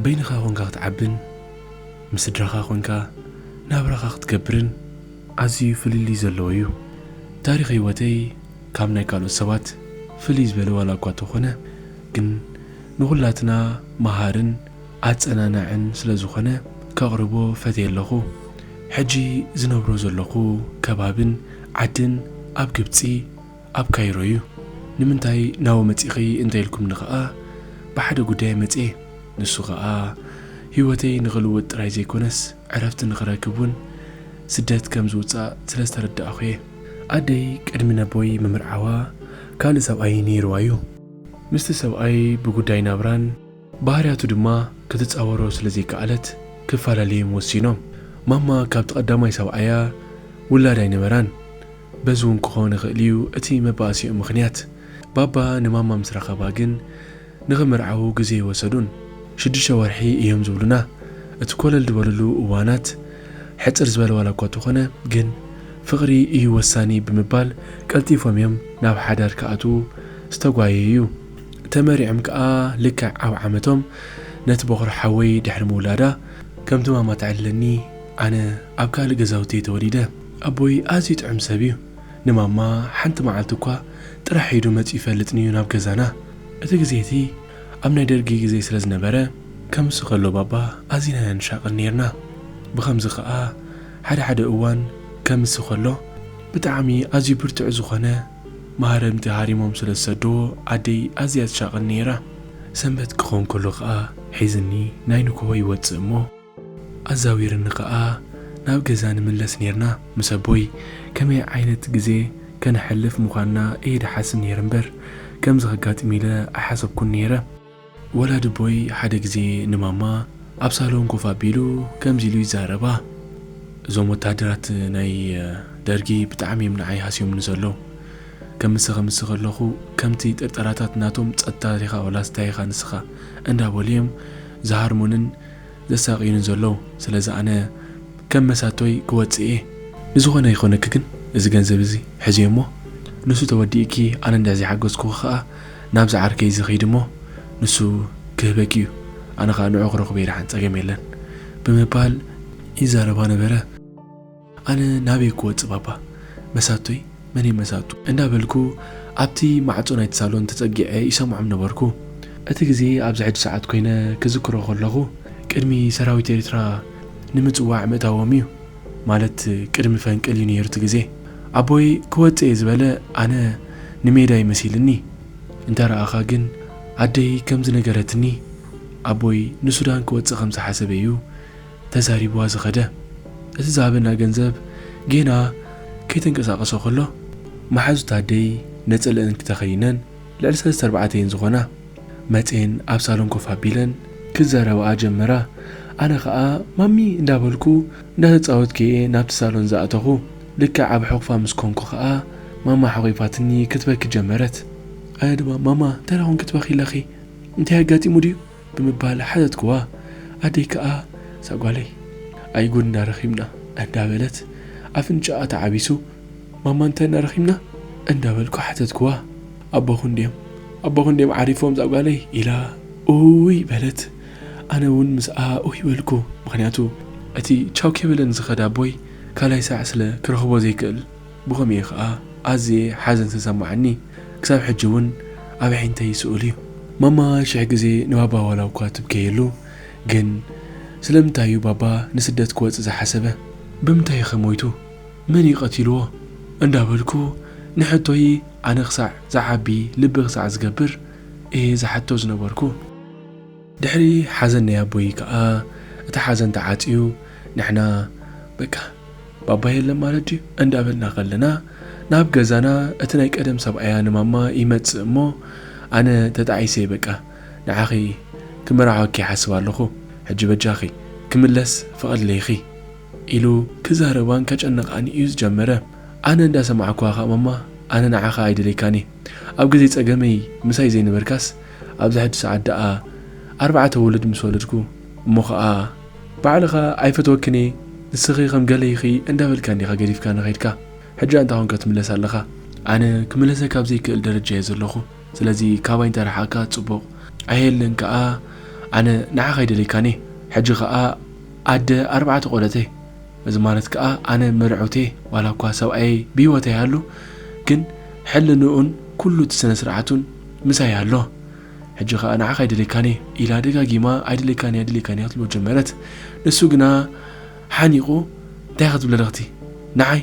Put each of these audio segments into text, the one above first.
በይንኻ ኮንካ ክትዓብን ምስ ስድራኻ ኮንካ ናብራኻ ክትገብርን ኣዝዩ ፍልልይ ዘለዎ እዩ። ታሪኽ ህይወተይ ካብ ናይ ካልኦት ሰባት ፍልይ ዝበለ ዋላ እኳ ተኾነ ግን ንኹላትና መሃርን ኣጸናናዕን ስለ ዝኾነ ከቕርቦ ፈትየ ኣለኹ። ሕጂ ዝነብሮ ዘለኹ ከባብን ዓድን ኣብ ግብጺ ኣብ ካይሮ እዩ። ንምንታይ ናብኡ መጺኺ እንተ ኢልኩምኒ ከኣ ብሓደ ጉዳይ መጽየ። ንሱ ከኣ ህይወተይ ንኽልውጥ ጥራይ ዘይኮነስ ዕረፍቲ ንኽረክብ እውን ስደት ከም ዝውጻእ ስለ ዝተረዳእኹ እየ። ኣደይ ቅድሚ ነቦይ ምምርዓዋ ካልእ ሰብኣይ ነይርዋ እዩ። ምስቲ ሰብኣይ ብጉዳይ ናብራን። ባህርያቱ ድማ ክትጻወሮ ስለ ዘይከኣለት ክፈላለዩም ወሲኖም። ማማ ካብቲ ቀዳማይ ሰብኣያ ውላድ ኣይነበራን። በዚ ውን ክኸውን ይኽእል'ዩ እቲ መባኣሲኦም ምኽንያት። ባባ ንማማ ምስ ረኸባ ግን ንኽምርዓዉ ግዜ ኣይወሰዱን። ሽዱሽተ ወርሒ እዮም ዝብሉና። እቲ ኮለል ዝበልሉ እዋናት ሕጽር ዝበለ ዋላኳ ተኾነ ግን ፍቕሪ እዩ ወሳኒ ብምባል ቀልጢፎም እዮም ናብ ሓዳር ክኣትዉ ዝተጓየዩ። ተመርዕዮም ከኣ ልክዕ ኣብ ዓመቶም ነቲ ቦኽሪ ሓወይ ድሕሪ ምውላዳ ከምቲ ማማ ትዕልለኒ ኣነ ኣብ ካልእ ገዛውቲ'የ ተወሊደ። ኣቦይ ኣዝዩ ጥዑም ሰብ'ዩ። ንማማ ሓንቲ መዓልቲ'ኳ ጥራሕ ኢዱ መጺኡ ይፈልጥን'ዩ ናብ ገዛና። እቲ ግዜ'ቲ ኣብ ናይ ደርጊ ግዜ ስለ ዝነበረ ከምሱ ከሎ ባባ ኣዚና'ያ ንሻቐል ኔርና። ብኸምዚ ከኣ ሓደ ሓደ እዋን ከምሱ ከሎ ብጣዕሚ ኣዝዩ ብርቱዕ ዝኾነ ማህረምቲ ሃሪሞም ስለ ዝሰደዎ ኣደይ ኣዝያ ትሻቐል ነይራ። ሰንበት ክኾን ከሎ ከኣ ሒዝኒ ናይ ንግሆ ይወጽእ እሞ ኣዛዊርኒ ከኣ ናብ ገዛ ንምለስ ኔርና። ምስ ኣቦይ ከመይ ዓይነት ግዜ ከነሕልፍ ምዃንና እየ ድሓስብ ነይረ እምበር ከምዚ ከጋጥም ኢለ ኣይሓሰብኩን ነይረ። ወላድቦይ ሓደ ግዜ ንማማ ኣብ ሳሎን ኮፍ ኣቢሉ ከምዚ ኢሉ ይዛረባ፣ እዞም ወተሃደራት ናይ ደርጊ ብጣዕሚ እዮም ንዓይ ሃስዮምኒ ዘለዉ። ከምሲ ከምሲ ከለኹ ከምቲ ጥርጠራታት ናቶም ጸጥታ ዲኻ ወላስ ታይ ኢኻ ንስኻ እንዳበሉ እዮም ዝሃርሙንን ዘሳቕዩኒ ዘሎው ስለዚ ኣነ ከም መሳቶይ ክወጽእ እየ። ብዝኾነ ይኾነኪ ግን እዚ ገንዘብ እዚ ሕዝዮ እሞ ንሱ ተወዲኡኪ ኣነ እንድሕር ዘይሓገዝኩኺ ከኣ ናብዚ ዓርከይ እዚ ኺዲ እሞ ንሱ ክህበኪ እዩ ኣነ ከኣ ንዑ ክረኽቦ ይድሓን ጸገም የለን ብምባል ይዛረባ ነበረ። ኣነ ናበይ ክወጽእ ባባ መሳቶይ መን'ዮም መሳቱ? እንዳ በልኩ ኣብቲ ማዕጾ ናይቲ ሳሎን ተጸጊዐ ይሰምዖም ነበርኩ። እቲ ግዜ ኣብዚ ሕጂ ሰዓት ኮይነ ክዝክሮ ከለኹ ቅድሚ ሰራዊት ኤሪትራ ንምጽዋዕ ምእታዎም'ዩ ማለት ቅድሚ ፈንቅል'ዩ ነይሩ እቲ ግዜ። ኣቦይ ክወጽእ'የ ዝበለ ኣነ ንሜዳ'ዩ መሲልኒ እንተ ረኣኻ ግን ኣደይ ከም ዝነገረትኒ ኣቦይ ንሱዳን ክወጽእ ከም ዝሓሰበ'ዩ ተዛሪብዋ ዝኸደ እቲ ዝሃበና ገንዘብ ጌና ከይተንቀሳቐሰ ከሎ መሓዙት ኣደይ ነፀለእን ክተኸይነን ልዕሊ ሰለስተ ኣርባዕተ እየን ዝኾና መፄን ኣብ ሳሎን ኮፍ ኣቢለን ክዛረባኣ ጀመራ ኣነ ኸዓ ማሚ እንዳበልኩ እንዳተፃወትኩ እየ ናብቲ ሳሎን ዝኣተኹ ልክዕ ኣብ ሕቑፋ ምስ ኮንኩ ኸዓ ማማ ሓቒፋትኒ ክትበኪ ጀመረት ኣነ ድማ ማማ እንታይ ዳኾን ክትበኺ ኣለኺ እንታይ ኣጋጢሙ ድዩ ብምባል ሓተትክዋ። ኣደይ ከኣ እዛ ጓለይ ኣይ ጉድ እንዳ ረኺብና እንዳ በለት ኣፍንጭኣ ተዓቢሱ ማማ እንታይ እንዳ ረኺብና እንዳ በልኩ ሓተትክዋ። ኣቦኽን ድዮም ኣቦኽን ድዮም ዓሪፎም እዛ ጓለይ ኢላ ኡይ በለት ኣነ ውን ምስኣ ኡይ በልኩ ምኽንያቱ እቲ ቻው ከይበለን ዝኸደ ኣቦይ ካልኣይ ሳዕ ስለ ክረኽቦ ዘይክእል። ብኸምኡ ኸኣ ኣዝየ ሓዘን ዝተሰማዓኒ ክሳብ ሕጂ ውን ኣብ ኣዒንተይ ይስእል እዩ። ማማ ሽሕ ግዜ ንባባ ዋላ እኳ ትብከየሉ ግን ስለምንታይ እዩ ባባ ንስደት ክወጽእ ዝሓሰበ? ብምንታይ ከ ሞይቱ? መን እዩ ቀቲልዎ? እንዳበልኩ ንሕቶይ ኣነ ክሳዕ ዝዓቢ ልቢ ክሳዕ ዝገብር እየ ዝሓቶ ዝነበርኩ። ድሕሪ ሓዘን ናይ ኣቦይ ከኣ እቲ ሓዘን ተዓጽዩ ንሕና በቃ ባባ የለን ማለት ድዩ እንዳበልና ከለና ናብ ገዛና እቲ ናይ ቀደም ሰብኣያ ንማማ ይመጽእ እሞ ኣነ ተጣዒሰ በቃ ንዓኺ ክመርዓወኪ ይሓስብ ኣለኹ ሕጂ በጃኺ ክምለስ ፍቐድለይኺ ኢሉ ክዛረባን ከጨንቓን እዩ ዝጀመረ ኣነ እንዳሰማዕኩዋ ከኣ ማማ ኣነ ንዓኻ ኣይደለይካን እየ ኣብ ግዜ ጸገመይ ምሳይ ዘይነበርካስ ኣብዛ ሕጂ ሰዓት ደኣ ኣርባዕተ ውሉድ ምስ ወለድኩ እሞ ከኣ ባዕልኻ ኣይፈትወክን እየ ንስኺ ከም ገለ ኢኺ እንዳበልካኒ ኢኻ ገዲፍካኒ ከይድካ ሕጂ ኣንታ ኮን ከትምለስ ኣለኻ ኣነ ክምለሰካ ኣብ ዘይክእል ደረጃ እየ ዘለኹ ስለዚ ካባይ እንተ ረሓቅካ ጽቡቅ ኣየለን ከኣ ኣነ ንዓኻ ኣይደልየካን እየ ሕጂ ከኣ ኣደ ኣርባዕተ ቆልዑት እየ እዚ ማለት ከኣ ኣነ መርዕውቲ እየ ዋላ እኳ ሰብኣየይ ብሂወት ኣይሃሉ ግን ሕልንኡን ኩሉ እቲ ስነ ስርዓቱን ምሳይ ኣሎ ሕጂ ከኣ ንዓኻ ኣይደልየካን'የ ኢላ ደጋጊማ ኣይደልየካን'የ ኣይደልየካን'የ ክትብሎ ጀመረት ንሱ ግና ሓኒቑ እንታይ ክትብለለኽ'ቲ ንዓይ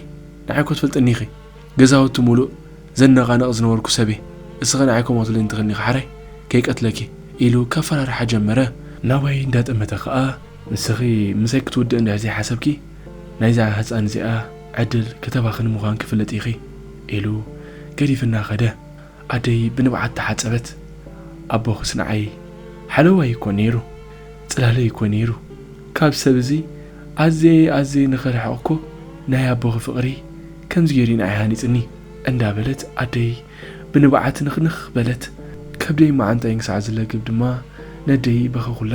ንዓይ'ኮ ትፈልጥኒ ኢኺ ገዛውቲ ሙሉእ ዘነቓንቕ ዝነበርኩ ሰብ'የ እስኺ ንዓይ ከምኡ ክትብልኒ ትኽእልኒ ኢኺ ሓራይ ከይቀትለኪ ኢሉ ከፈራርሓ ጀመረ ናባይ እንዳጠመተ ከኣ ንስኺ ምሳይ ክትውድኢ እንድሕር ዘይሓሰብኪ ናይዛ ህጻን እዚኣ ዕድል ከተባኽኒ ምዃንኪ ፍለጢ ኢኺ ኢሉ ገዲፍና ከደ። ኣደይ ብንብዓት ተሓጸበት። ኣቦኽስ ንዓይ ሓለዋይ እኮ ነይሩ፣ ጽላለይ እኮ ነይሩ። ካብ ሰብ እዚ ኣዝየ ኣዝየ ንኽርሕቕ እኮ ናይ ኣቦኺ ፍቕሪ ከምዚ ገይሩ እዩ ንዓይ ሃኒጽኒ። እንዳበለት ኣደይ ብንብዓት ንኽንኽ በለት። ከብደይን መዓንጣይን ክሳዕ ዝለግብ ድማ ነደይ በኸኹላ።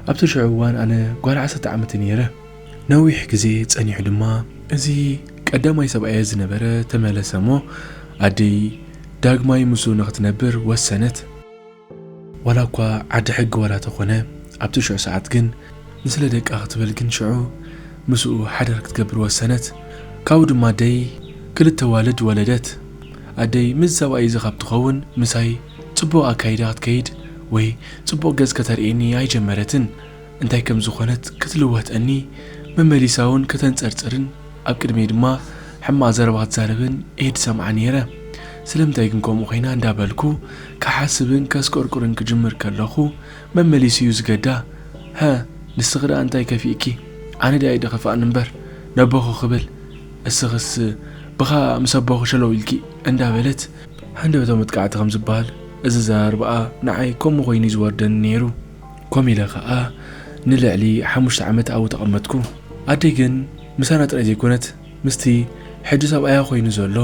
ኣብቲ ሽዑ እዋን ኣነ ጓል ዓሰርተ ዓመተይ ነይረ። ነዊሕ ግዜ ጸኒሑ ድማ እዚ ቀዳማይ ሰብኣየ ዝነበረ ተመለሰ እሞ ኣደይ ዳግማይ ምስኡ ንኽትነብር ወሰነት። ዋላ እኳ ዓዲ ሕጊ ዋላ ተኾነ ኣብቲ ሽዑ ሰዓት ግን ንስለ ደቃ ክትብል ግን ሽዑ ምስኡ ሓዳር ክትገብር ወሰነት። ካብኡ ድማ ኣደይ ክልተ ኣዋልድ ወለደት። ኣደይ ምስዚ ሰብኣይ እዚ ካብ ትኸውን ምሳይ ጽቡቕ ኣካይዳ ክትከይድ ወይ ጽቡቕ ገጽ ከተርእየኒ ኣይጀመረትን። እንታይ ከም ዝኾነት ክትልወጠኒ፣ መመሊሳውን ከተንጸርጽርን ኣብ ቅድመይ ድማ ሕማቕ ዘረባ ክትዛረብን እየ ዝሰምዓ ነይረ። ስለምንታይ ግን ከምኡ ኮይና እንዳ በልኩ ክሓስብን ከስቆርቁርን ክጅምር ከለኹ መመሊሱ እዩ ዝገዳ ሀ ንስኺ ደኣ እንታይ ከፊእኪ ኣነ ደኣ ይደኸፋእኒ እምበር ነቦኹ ክብል እስኽስ ብኻ ምስ ኣቦኺ ሸለው ኢልኪ እንዳ በለት ሃንደበታዊ መጥቃዕቲ ከም ዝበሃል እዚ ኣዘራርባኣ ንዓይ ከምኡ ኮይኑ እዩ ዝወርደኒ ነይሩ። ኮም ኢለ ከኣ ንልዕሊ ሓሙሽተ ዓመት ኣብኡ ተቐመጥኩ። ኣደይ ግን ምሳና ጥራይ ዘይኮነት፣ ምስቲ ሕጂ ሰብኣያ ኮይኑ ዘሎ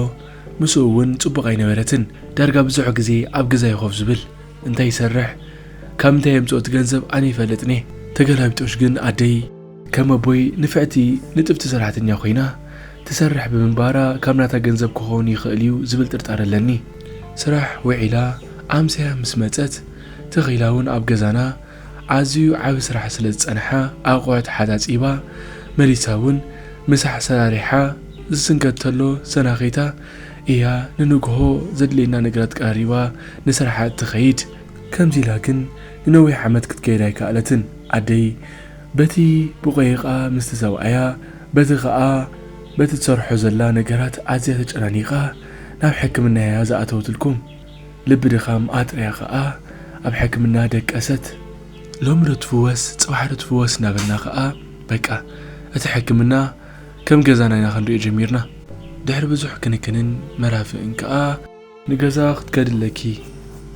ምስኡ እውን ጽቡቕ ኣይነበረትን። ዳርጋ ብዙሕ ግዜ ኣብ ገዛ'ዩ ኮፍ ዝብል። እንታይ ይሰርሕ፣ ካብ ምንታይ የምጽኦ እቲ ገንዘብ ኣነ ይፈልጥን'የ። ተገላቢጦሽ ግን ኣደይ። ከም ኣቦይ ንፍዕቲ ንጥፍቲ ሰራሕተኛ ኮይና ትሰርሕ ብምንባራ ካብ ናታ ገንዘብ ክኸውን ይኽእል እዩ ዝብል ጥርጣረ ኣለኒ። ስራሕ ውዒላ ኣምስያ ምስ መጸት ተኺላ እውን ኣብ ገዛና ኣዝዩ ዓቢ ስራሕ ስለ ዝጸንሓ ኣቑሑት ሓጻጺባ መሊሳ እውን ምሳሕ ሰራሪሓ ዝስንከት ተሎ ሰናኺታ እያ ንንግሆ ዘድልየና ነገራት ቀራሪባ ንስራሓ እትኸይድ። ከምዚ ኢላ ግን ንነዊሕ ዓመት ክትከይድ ኣይከኣለትን ኣደይ። በቲ ብቆይቃ ምስ ተሰብኣያ በቲ ከኣ በቲ ትሰርሖ ዘላ ነገራት ኣዝያ ተጨናኒቃ ናብ ሕክምና ኢያ ዝኣተወትልኩም ልቢ ድኻም ኣጥርያ ከኣ ኣብ ሕክምና ደቀሰት ሎሚ ዶ ትፍወስ ጽባሕ ዶ ትፍወስ እናበልና ከኣ በቃ እቲ ሕክምና ከም ገዛና ኢና ክንሪኦ ጀሚርና ድሕሪ ብዙሕ ክንክንን መራፍእን ከኣ ንገዛ ክትከዲ ኣለኪ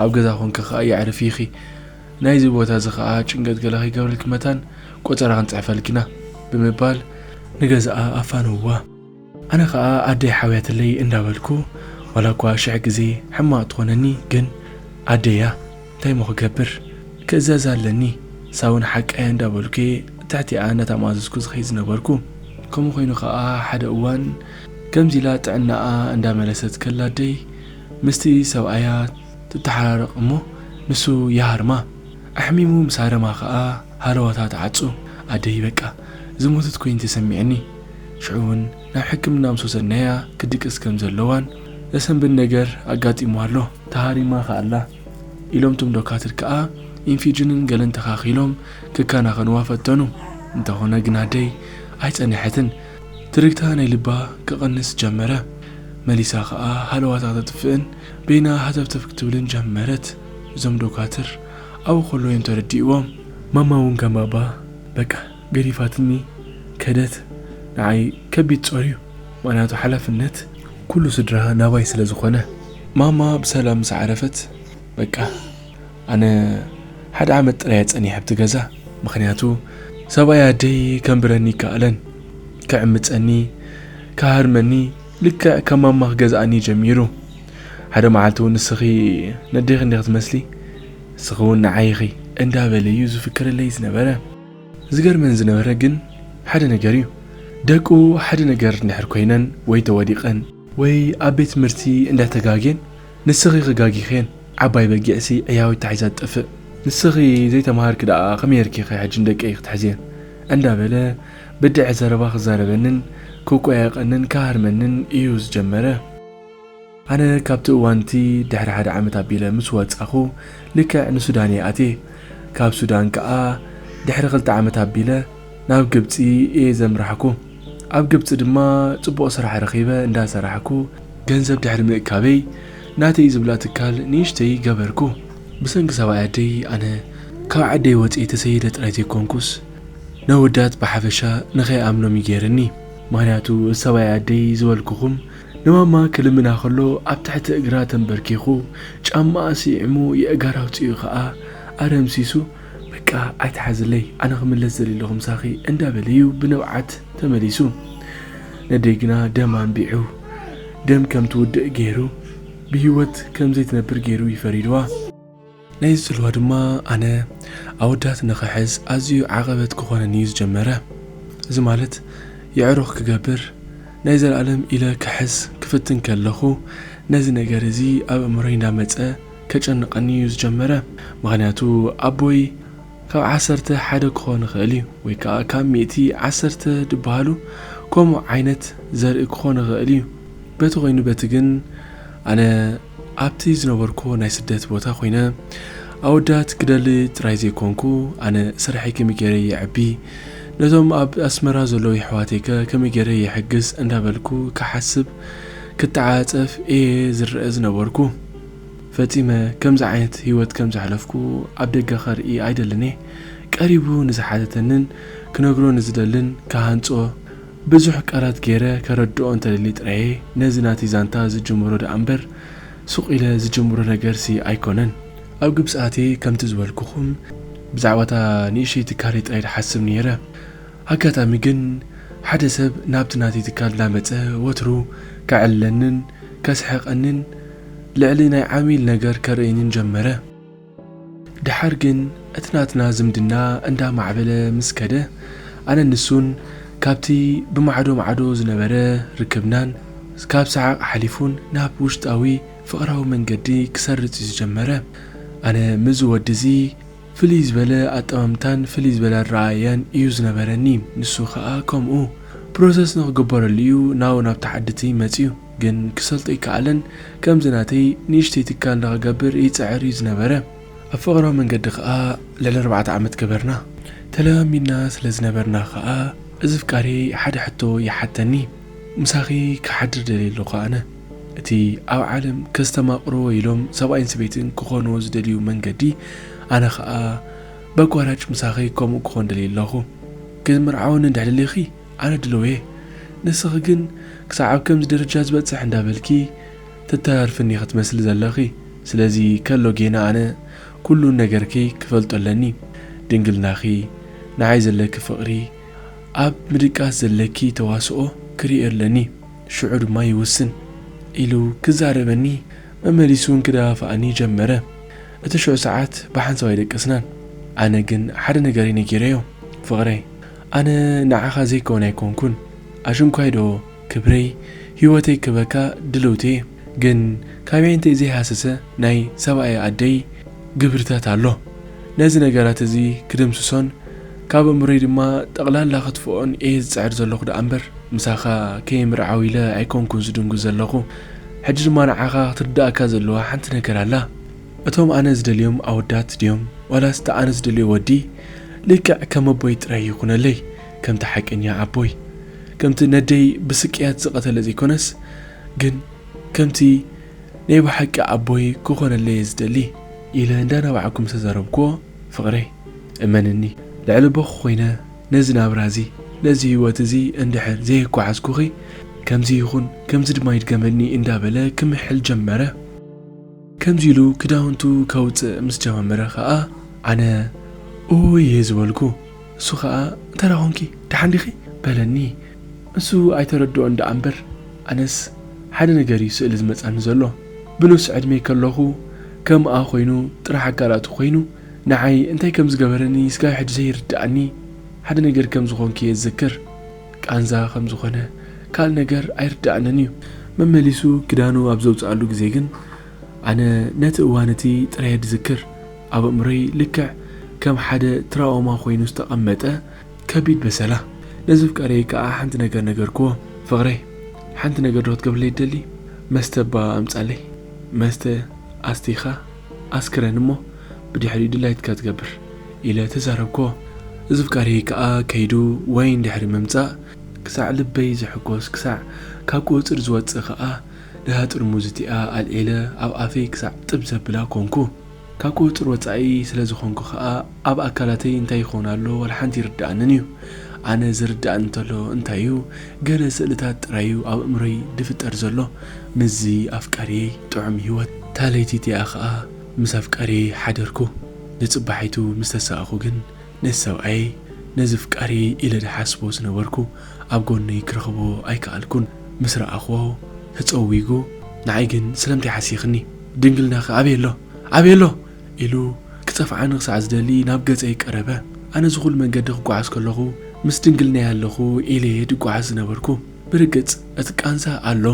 ኣብ ገዛ ኮንኪ ከኣ የዕርፊ ኢኺ ናይዚ ቦታ እዚ ከኣ ጭንቀት ገለ ከይገብረልኪ መታን ቆጸራ ክንጽሕፈልኪ ኢና ብምባል ንገዛኣ ኣፋነውዋ። ኣነ ከኣ ኣደይ ሓውያትለይ እንዳበልኩ ዋላ እኳ ሽሕ ግዜ ሕማቅ ትኾነኒ ግን ኣደይ'ያ እንታይ እሞ ክገብር ክእዘዛ ኣለኒ ሳውን ሓቃ'ያ እንዳበልኩ'የ ትሕቲኣ እንዳተማዘዝኩ ዝኸይድ ዝነበርኩ ከምኡ ኮይኑ ከኣ ሓደ እዋን ከምዚ ኢላ ጥዕናኣ እንዳመለሰት ከላ ኣደይ ምስቲ ሰብኣያ ትተሓራረቕ እሞ ንሱ ይሃርማ። ኣሕሚሙ ምስ ሃረማ ከኣ ሃለዋታ ትዓጹ። ኣደይ በቃ ዝሞተት ኮይኒ ተሰሚዑኒ። ሽዑ ውን ናብ ሕክምና ምስ ወሰድናያ ክትድቅስ ከም ዘለዋን ዘሰንብድ ነገር ኣጋጢምዋ ኣሎ። ተሃሪማ ከኣ ኣላ ኢሎም እቶም ዶካትር ከኣ ኢንፊጅንን ገለን ተኻኺሎም ክከናኸንዋ ፈተኑ። እንተኾነ ግን ኣደይ ኣይጸነሐትን። ትርግታ ናይ ልባ ክቕንስ ጀመረ። መሊሳ ከኣ ሃለዋታ ክተጥፍእን በይና ሃተፍተፍ ክትብልን ጀመረት። እዞም ዶካትር ኣብኡ ከለዉ እዮም ተረዲእዎም። ማማ እውን ከም ባባ በቃ ገዲፋትኒ ከደት። ንዓይ ከቢድ ጾር እዩ፣ ምኽንያቱ ሓላፍነት ኩሉ ስድራ ናባይ ስለ ዝኾነ። ማማ ብሰላም ምስ ዓረፈት በቃ ኣነ ሓደ ዓመት ጥራየ ጸኒሐ ኣብቲ ገዛ ምኽንያቱ ሰብኣይ ኣደይ ከንብረኒ ይከኣለን ክዕምጸኒ ክሃርመኒ ልክዕ ከም ማማ ክገዝኣኒ ጀሚሩ ሓደ መዓልቲ እውን ንስኺ ነዴኺ እንዲኺ ትመስሊ ንስኺ እውን ንዓይ ኢኺ እንዳበለ እዩ ዝፍክረለይ ዝነበረ ዝገርመን ዝነበረ ግን ሓደ ነገር እዩ ደቁ ሓደ ነገር እንድሕር ኮይነን ወይ ተወዲቐን ወይ ኣብ ቤት ትምህርቲ እንዳ ተጋጌን ንስኺ ክጋጊኼን ዓባይ በጊዕሲ ዕያዊት ተሒዛ ትጠፍእ ንስኺ ዘይተማሃርኪ ደኣ ከመይ ጌርኪ ኢኺ ሕጂ ንደቀይ ክትሕዝየን እንዳ በለ ብድዐ ዘረባ ክዛረበንን ክቆያየቀንን ክሃርመንን እዩ ዝጀመረ። ኣነ ካብቲ እዋን እቲ ድሕሪ ሓደ ዓመት ኣቢለ ምስ ወጻኹ ልክዕ ንሱዳን እየ ኣትየ ካብ ሱዳን ከኣ ድሕሪ ክልተ ዓመት ኣቢለ ናብ ግብጺ እየ ዘምራሕኩ። ኣብ ግብጺ ድማ ጽቡቕ ስራሕ ረኺበ እንዳ ሰራሕኩ ገንዘብ ድሕሪ ምእካበይ ናተይ ዝብላ ትካል ንእሽተይ ገበርኩ። ብሰንኪ ሰብኣይ ኣደይ ኣነ ካብ ዓደይ ወጺኤ ተሰይደ ጥራይ ዘይኮንኩስ ነወዳት ብሓፈሻ ንኸይኣምኖም እዩ ጌርኒ። ምኽንያቱ ሰብኣይ ኣደይ ዝበልኩኹም ንማማ ክልምና ከሎ ኣብ ትሕቲ እግራ ተንበርኪኹ ጫማኣ ስዒሙ የእጋር ኣውጺኡ ከኣ ኣረምሲሱ፣ በቃ ኣይትሓዝለይ ኣነ ክምለስ ዘሊለኹ ምሳኺ እንዳበለ እዩ ብንብዓት ተመሊሱ። ነደይ ግና ደም ኣንቢዑ ደም ከም ትውድእ ገይሩ ብሂወት ከም ዘይትነብር ገይሩ እዩ ፈሪድዋ። ናይዚ ጽልዋ ድማ ኣነ ኣወዳት ንኽሕዝ ኣዝዩ ዓቐበት ክኾነኒ እዩ ዝጀመረ። እዚ ማለት የዕሩኽ ክገብር ናይ ዘልኣለም ኢለ ክሕዝ ክፍትን ከለኹ ነዚ ነገር እዚ ኣብ ኣእምሮይ እንዳመጸ ከጨንቐኒ እዩ ዝጀመረ ምኽንያቱ ኣቦይ ካብ ዓሰርተ ሓደ ክኾን ይኽእል እዩ ወይ ከኣ ካብ ሚእቲ ዓሰርተ ድበሃሉ ከምኡ ዓይነት ዘርኢ ክኾን ይኽእል እዩ በቲ ኮይኑ በቲ ግን ኣነ ኣብቲ ዝነበርኩዎ ናይ ስደት ቦታ ኮይነ ኣወዳት ክደሊ ጥራይ ዘይኮንኩ ኣነ ስርሐይ ከመይ ገይረ የዕቢ ነቶም ኣብ ኣስመራ ዘለዉ የሕዋተይከ ከመይ ገይረ የሕግዝ እንዳበልኩ ክሓስብ ክተዓጸፍ እየ ዝረአ ዝነበርኩ ፈጺመ ከምዚ ዓይነት ህይወት ከም ዘሕለፍኩ ኣብ ደገ ከርኢ ኣይደልን እየ። ቀሪቡ ንዝሓተተንን ክነግሮ ንዝደልን ክሃንጾ ብዙሕ ቀረት ገይረ ከረድኦ እንተደልየ ጥራየ ነዚ ናተይ ዛንታ ዝጅምሮ ደኣ እምበር ሱቕ ኢለ ዝጅምሮ ነገርሲ ኣይኮነን። ኣብ ግብጺ ኣትየ ከምቲ ዝበልኩኹም ብዛዕባ እታ ንእሽተይ ትካለይ ጥራይ ድሓስብ ነይረ። ኣጋጣሚ ግን ሓደ ሰብ ናብቲ ናተይ ትካል እንዳመጸ ወትሩ ከዕልለንን ከስሕቐንን ልዕሊ ናይ ዓሚል ነገር ከርእየንን ጀመረ። ደሓር ግን እቲ ናትና ዝምድና እንዳማዕበለ ምስ ከደ ኣነን ንሱን ካብቲ ብማዕዶ ማዕዶ ዝነበረ ርክብናን ካብ ሰሓቕ ሓሊፉን ናብ ውሽጣዊ ፍቕራዊ መንገዲ ክሰርጽ እዩ ዝጀመረ። ኣነ ምስዚ ወዲ እዚ ፍልይ ዝበለ ኣጠማምታን ፍልይ ዝበለ ኣረኣእያን እዩ ዝነበረኒ ንሱ ከኣ ከምኡ ፕሮሰስ ንክግበረሉ እዩ ናው ናብታ ዓድትይ መጽዩ ግን ክሰልጦ ኣይከኣለን ከምዚ ናተይ ንእሽተይ ትካል ንክገብር ይጽዕር እዩ ዝነበረ ኣብ ፍቅራዊ መንገዲ ከኣ ልዕሊ ኣርባዕተ ዓመት ገበርና ተለማሚድና ስለ ዝነበርና ከኣ እዚ ፍቃረይ ሓደ ሕቶ ይሓተኒ ምሳኺ ክሓድር ደልየ ኣለኹ ኣነ እቲ ኣብ ዓለም ከስተማቕርዎ ኢሎም ሰብኣይን ሰበይትን ክኾንዎ ዝደልዩ መንገዲ፣ ኣነ ኸኣ በቋራጭ ምሳኺ ከምኡ ክኾን ደልየ ኣለኹ። ክትምርዓወኒ እንድሕር ደሊኺ ኣነ ድልው እየ፣ ንስኺ ግን ክሳዕ ኣብ ከምዚ ደረጃ ዝበጽሕ እንዳበልኪ ተተራርፍኒ ኢኺ ትመስሊ ዘለኺ። ስለዚ ከሎ ጌና ኣነ ኩሉ ነገርኪ ክፈልጦ ኣለኒ። ድንግልናኺ፣ ንዓይ ዘለኪ ፍቕሪ፣ ኣብ ምድቃስ ዘለኪ ተዋስኦ ክርእዮ ኣለኒ። ሽዑ ድማ ይውስን ኢሉ ክዛረበኒ መመሊሱውን ክደፋፍኣኒ ጀመረ። እቲ ሽዑ ሰዓት ብሓንሳብ ኣይደቀስናን። ኣነ ግን ሓደ ነገር እየ ነጊረዮ፣ ፍቕረይ ኣነ ንዓኻ ዘይከውን ኣይኮንኩን፣ ኣሽንኳይዶ ክብረይ፣ ህይወተይ ክህበካ ድልውቲ እየ። ግን ካበየንተይ ዘይሃሰሰ ናይ ሰብኣየ ኣደይ ግብርታት ኣሎ። ነዚ ነገራት እዚ ክድምስሶን ካብ ኣእምሮይ ድማ ጠቕላላ ከትፍኦን እየ ዝጽዕር ዘለኹ ደኣምበር ምሳኻ ከይምርዓው ኢለ ኣይኮንኩን ዝድንጉ ዘለኹ። ሕጂ ድማ ንዓኻ ክትርድኣካ ዘለዋ ሓንቲ ነገር ኣላ። እቶም ኣነ ዝደልዮም ኣወዳት ድዮም ዋላስ እቲ ኣነ ዝደልዮ ወዲ ልክዕ ከም ኣቦይ ጥራይ ይኹነለይ ከምቲ ሓቀኛ ኣቦይ ከምቲ ነደይ ብስቅያት ዝቐተለ ዘይኮነስ ግን ከምቲ ናይ ብሓቂ ኣቦይ ክኾነለይ እየ ዝደሊ ኢለ እንዳነባዕኩ ምስ ተዛረብኩዎ ፍቕረይ እመንኒ ልዕሊ ቦኺ ኮይነ ነዚ ናብራ እዚ ነዚ ህይወት እዚ እንድሕር ዘየጓዓዝኩኺ ከምዚ ይኹን ከምዚ ድማ ይድገመኒ እንዳበለ ክምሕል ጀመረ። ከምዚ ኢሉ ክዳውንቱ ከውጽእ ምስ ጀማመረ ከኣ ኣነ ኡይይ ዝበልኩ። እሱ ከኣ እንተዳ ኮንኪ ደሓን ዲኺ? በለኒ። እሱ ኣይተረድኦን ደኣ እምበር ኣነስ ሓደ ነገር እዩ ስእሊ ዝመጻኒ ዘሎ። ብኑስ ዕድሜይ ከለኹ ከምኣ ኮይኑ ጥራሕ ኣካላቱ ኮይኑ ንዓይ እንታይ ከም ዝገበረኒ ስጋብ ሕጂ ዘይርድኣኒ ሓደ ነገር ከም ዝኾንኩ እየ ዝዝክር። ቃንዛ ከም ዝኾነ ካልእ ነገር ኣይርድኣንን እዩ። መመሊሱ ክዳኑ ኣብ ዘውጽኣሉ ግዜ ግን ኣነ ነቲ እዋን እቲ ጥራየ ዝዝክር። ኣብ ኣእምሮይ ልክዕ ከም ሓደ ትራኦማ ኮይኑ ዝተቐመጠ ከቢድ በሰላ። ነዘፍቃሪየይ ከኣ ሓንቲ ነገር ነገርክዎ። ፍቕረይ ሓንቲ ነገርዶ ክትገብርለይ ትደሊ? መስተ እባ ኣምጻለይ። መስተ ኣስቲኻ? ኣስክረን እሞ ብድሕሪኡ ድላይትካ ትገብር ኢለ ተዛረብክዎ እዚ ፍቃርየይ ከኣ ከይዱ ወይን ድሕሪ ምምጻእ ክሳዕ ልበይ ዝሕጎስ ክሳዕ ካብ ቁጽጽር ዝወጽእ ከኣ ነታ ጥርሙዝ እቲኣ ኣልዒለ ኣብ ኣፈይ ክሳዕ ጥብ ዘብላ ኮንኩ ካብ ቁጽጽር ወጻኢ ስለ ዝኮንኩ ከኣ ኣብ ኣካላተይ እንታይ ይኸውን ኣሎ ዋላ ሓንቲ ኣይርድኣንን እዩ። ኣነ ዝርድኣኒ እንተሎ እንታይ እዩ ገለ ስእልታት ጥራይ እዩ ኣብ ኣእምሮይ ዝፍጠር ዘሎ ምስዚ ኣፍቃሪየይ ጥዑም ሂወት። እታ ለይቲ እቲኣ ከኣ ምስ ኣፍቃሪየይ ሓደርኩ። ንጽባሒቱ ምስ ተሳእኩ ግን ነቲ ሰብኣየይ ነዚ ፍቃሪየይ ኢለ ዝሓስቦ ዝነበርኩ ኣብ ጎነይ ክረኽቦ ኣይከኣልኩን። ምስ ረኣኽዎ ተጸዊጉ ንዓይ ግን ስለምንታይ ሓሲኽኒ ድንግልናኺ ኣበይ ኣሎ ኣበይ ኣሎ? ኢሉ ክጸፍዓኒ ክሳዕ ዝደሊ ናብ ገጸይ ቀረበ። ኣነ እዚ ኹሉ መንገዲ ክጓዓዝ ከለኹ ምስ ድንግልናይ ኣለኹ ኢለ'የ ድጓዓዝ ዝነበርኩ። ብርግጽ እቲ ቃንዛ ኣሎ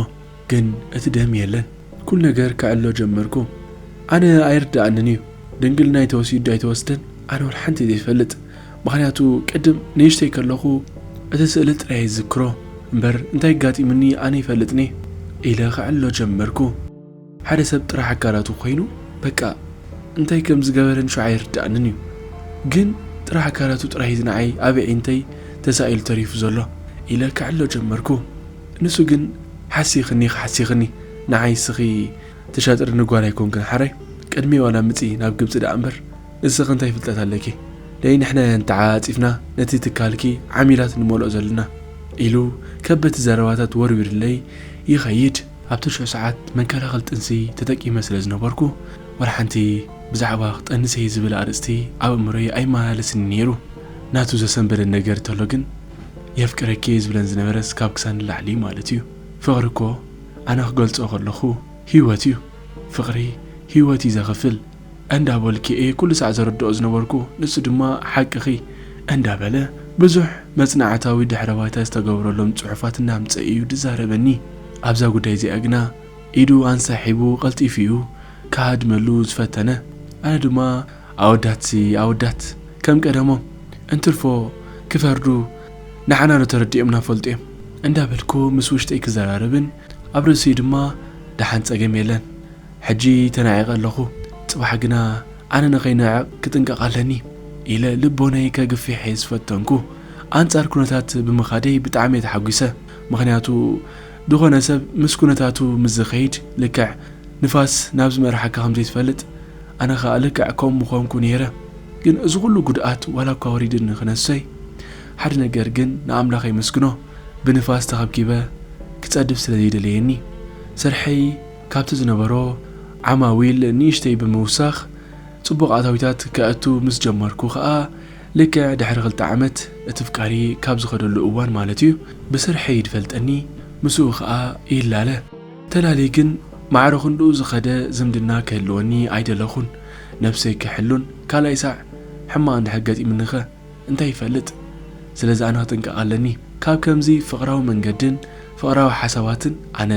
ግን እቲ ደም የለን። ኩሉ ነገር ከዕልሎ ጀመርኩ። ኣነ ኣይርድኣንን'ዩ ድንግልናይ ተወሲዱ'ዶ ኣይተወስደን ኣነ ወላ ሓንቲ ዘይፈልጥ ምኽንያቱ ቅድም ንእሽተይ ከለኹ እቲ ስእሊ ጥራይ'የ ዝዝክሮ እምበር እንታይ ኣጋጢሙኒ ኣነ ይፈልጥን'የ ኢለ ከዕልሎ ጀመርኩ። ሓደ ሰብ ጥራሕ ኣካላቱ ኮይኑ በቃ እንታይ ከም ዝገበረን ሸው ኣይርድኣንን እዩ ግን ጥራሕ ኣካላቱ ጥራይ እዚ ንዓይ ኣብ ኣዒንተይ ተሳኢሉ ተሪፉ ዘሎ ኢለ ክዕሎ ጀመርኩ ንሱ ግን ሓሲኽኒ ክሓሲኽኒ ንዓይ እስኺ ተሻጥርኒ ጓል ኣይኮንክን ሓራይ ቅድሚ ዋላ ምጺ ናብ ግብጺ ደኣ እምበር እስኺ እንታይ ፍልጠት ኣለኪ ደይ ንሕና እያን ተዓጻጺፍና ነቲ ትካልኪ ዓሚላት ንመልኦ ዘለና ኢሉ ከበቲ ዘረባታት ወርዊርለይ ይኸይድ ኣብ ትሽዑ ሰዓት መንከላኸል ጥንሲ ተጠቂመ ስለ ዝነበርኩ ወላ ሓንቲ ብዛዕባ ክጠንስ እየ ዝብል ኣርእስቲ ኣብ ኣእምሮይ ኣይመላለስን'ዩ ነይሩ። ናቱ ዘሰንበደን ነገር ተሎ ግን የፍቅረኪ'የ ዝብለን ዝነበረስ ካብ ክሳድ ንላዕሊ'ዩ ማለት'ዩ። ፍቕሪ'ኮ ኣነ ክገልጾ ከለኹ ህይወት'ዩ። ፍቕሪ ህይወት'ዩ ዘኽፍል። እንዳበልኩ'የ ኩሉ ሳዕ ዘረድኦ ዝነበርኩ፣ ንሱ ድማ ሓቅኺ እንዳበለ ብዙሕ መጽናዕታዊ ድሕረ ባይታ ዝተገብረሎም ጽሑፋት እናምጸኤ'ዩ ዝዛረበኒ። ኣብዛ ጉዳይ እዚኣ ግና ኢዱ ኣንሳሒቡ ቀልጢፉ'ዩ ክሃድመሉ ዝፈተነ። ኣነ ድማ ኣወዳትሲ ኣወዳት ከም ቀደሞም እንትርፎ ክፈርዱ ንዓናዶ ተረዲኦምና ፈልጡ'ዮም እንዳበልኩ ምስ ውሽጠይ ክዘራረብን ኣብ ርእሲኡ ድማ ደሓን ጸገም የለን ሕጂ ተናዒቐ ኣለኹ፣ ጽባሕ ግና ኣነ ንኸይንዕቕ ክጥንቀቕ ኣለኒ ኢለ ልቦነይ ከግፊሕ'የ ዝፈተንኩ። ኣንጻር ኩነታት ብምኻደይ ብጣዕሚ'የ ተሓጒሰ፣ ምኽንያቱ ዝኾነ ሰብ ምስ ኩነታቱ ምስ ዝኸይድ ልክዕ ንፋስ ናብ ዝመርሓካ ከም ዘይትፈልጥ ኣነ ከኣ ልክዕ ከምኡ ምኾንኩ ነይረ። ግን እዚ ኩሉ ጉድኣት ዋላ'ኳ ወሪድኒ ክነሶይ ሓደ ነገር ግን ንኣምላኽ የመስግኖ ብንፋስ ተኸብኪበ ክጸድፍ ስለ ዘይደለየኒ ስርሐይ ካብቲ ዝነበሮ ዓማዊል ንእሽተይ ብምውሳኽ ጽቡቕ ኣታዊታት ከእቱ ምስ ጀመርኩ ከኣ፣ ልክዕ ድሕሪ ክልተ ዓመት፣ እቲ ፍቃሪ ካብ ዝኸደሉ እዋን ማለት'ዩ፣ ብስርሐይ ይድፈልጠኒ፣ ምስኡ ከኣ ይላለ። ተላልየ ግን ማዕረ ክንድኡ ዝኸደ ዝምድና ክህልወኒ ኣይደለኹን። ነብሰይ ክሕሉን ካልኣይ ሳዕ ሕማቕ እንድሕር ገጢሙኒኸ? እንታይ ይፈልጥ ስለዚ ኣነ ክጥንቀቅ ኣለኒ ካብ ከምዚ ፍቅራዊ መንገድን ፍቅራዊ ሓሳባትን ኣነ